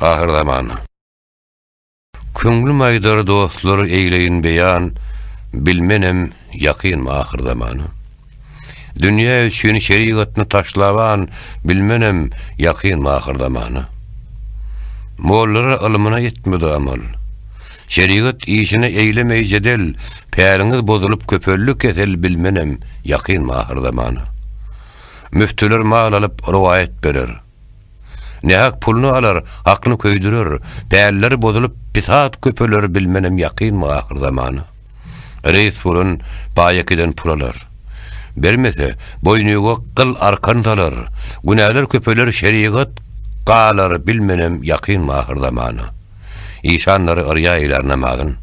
Ahyr zaman. Köňlüm aýdar dostlar eýleýin beýan, bilmenem ýakyn ahyr zaman. Dünýä üçin şerigatny taşlaban, bilmenem ýakyn ahyr zaman. Mollara ylmyna etmedi amal. Şerigat işine eýlemeý jedel, päriňiz bozulyp köpeldi kesel bilmenem ýakyn ahyr zaman. Müftüler mal alyp, rowaýat böler. Nähak puluny alar, aklyny köýdürer, pälleri bozulyp, pisat köpeler bilmenem ýakynmy ahyr zamana. Reýs bolan baýakiden pul alar. Bermese, boýnuýga gyl arkan salar, günäler köpeler şerigat galar bilmenem ýakynmy ahyr zamana. Işanlary yrýa eýlär namazyn.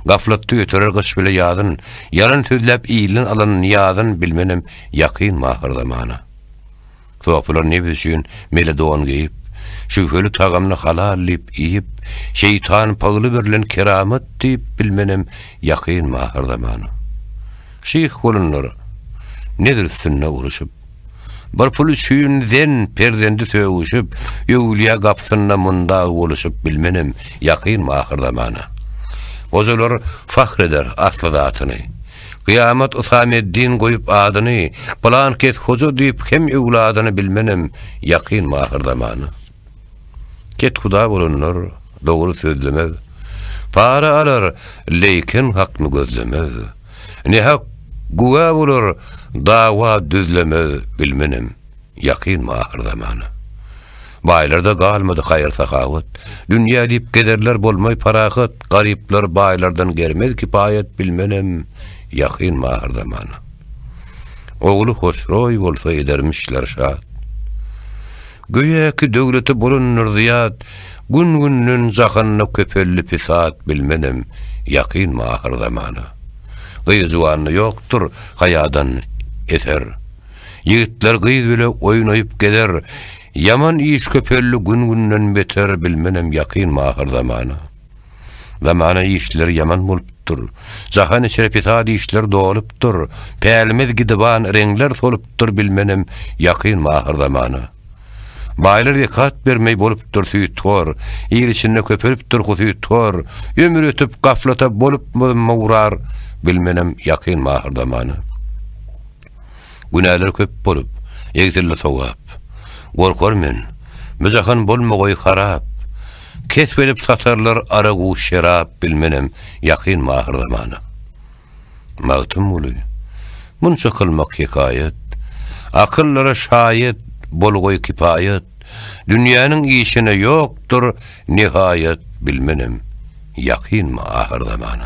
Gaflatda ýöterer gyş bile ýazyn, ýalan sözläp ilden alan niýazyn bilmenem ýakyn mahyrzamana. Sopylar nebis üçin mele don geýip, şübheli tagamny halal diýip iýip, şeýtan pygly berlen keramat diýip bilmenem ýakyn mahyrzamana. Şyh bolanlar nezr üstünde uruşyp, bir pul üçin zen perzendi sögüşip, öwlüýä gapysynda mundag boluşyp bilmenem ýakyn mahyrzamana. Gojalar fahr eder asly zatyny. Gyýamat Usameddin goýup adyny, Pylan kes hoja diýip hem öwladyny bilmenem ýakyn mahyr zamana. Kethuda bolanlar dogry sözlemez, Para alar, leýken hakny gözlemez. Nähak güwä bolar, dawa düzlemez bilmenem ýakyn mahyr zamana. Baýlarda galmady haýyr-sahawat. Dünýä diýip gezerler bolmaý parahat, Garyplar baýlardan germez kipaýat Bilmenem, ýakyn mahyr zamana. Ogly Hosroý bolsa edermişler şat. Göýäki döwleti bolandyr zyýat, Gün-günden jahanda köpeldi pisat Bilmenem, ýakyn mahyr zamana. Gyz-juwanda ýokdur haýadan eser. Ýigitler gyz bile oýnaýyp gezer, Ýaman iş köpeldi gün-günden beter Bilmenem ýakyn my ahyr zamana. Zamana işleri ýaman bolupdyr, Jahan içre pesat işler dolupdyr, Pälimiz gidiban reňler solupdyr Bilmenem ýakyn my ahyr zamana. Baýlar zekat bermeý bolupdyr süýthor, Il içinde köpelipdir husythor, Ömür ötüp gaflata bolupmyzm mugrar Bilmenem ýakyn my ahyr zamana. Günäler köp bolup, egsildi sogap. Gorkar men, bu jahan bolmagoý harap. Kesp edip satarlar aragu şerap bilmenem ýakyn mahyr zamana. Magtymguly, munça kylmak hekaýat, akyllara şaýat bolgoý kipaýat, dünýäniň işine ýokdur nihaýat bilmenem ýakynmy ahyr zamana.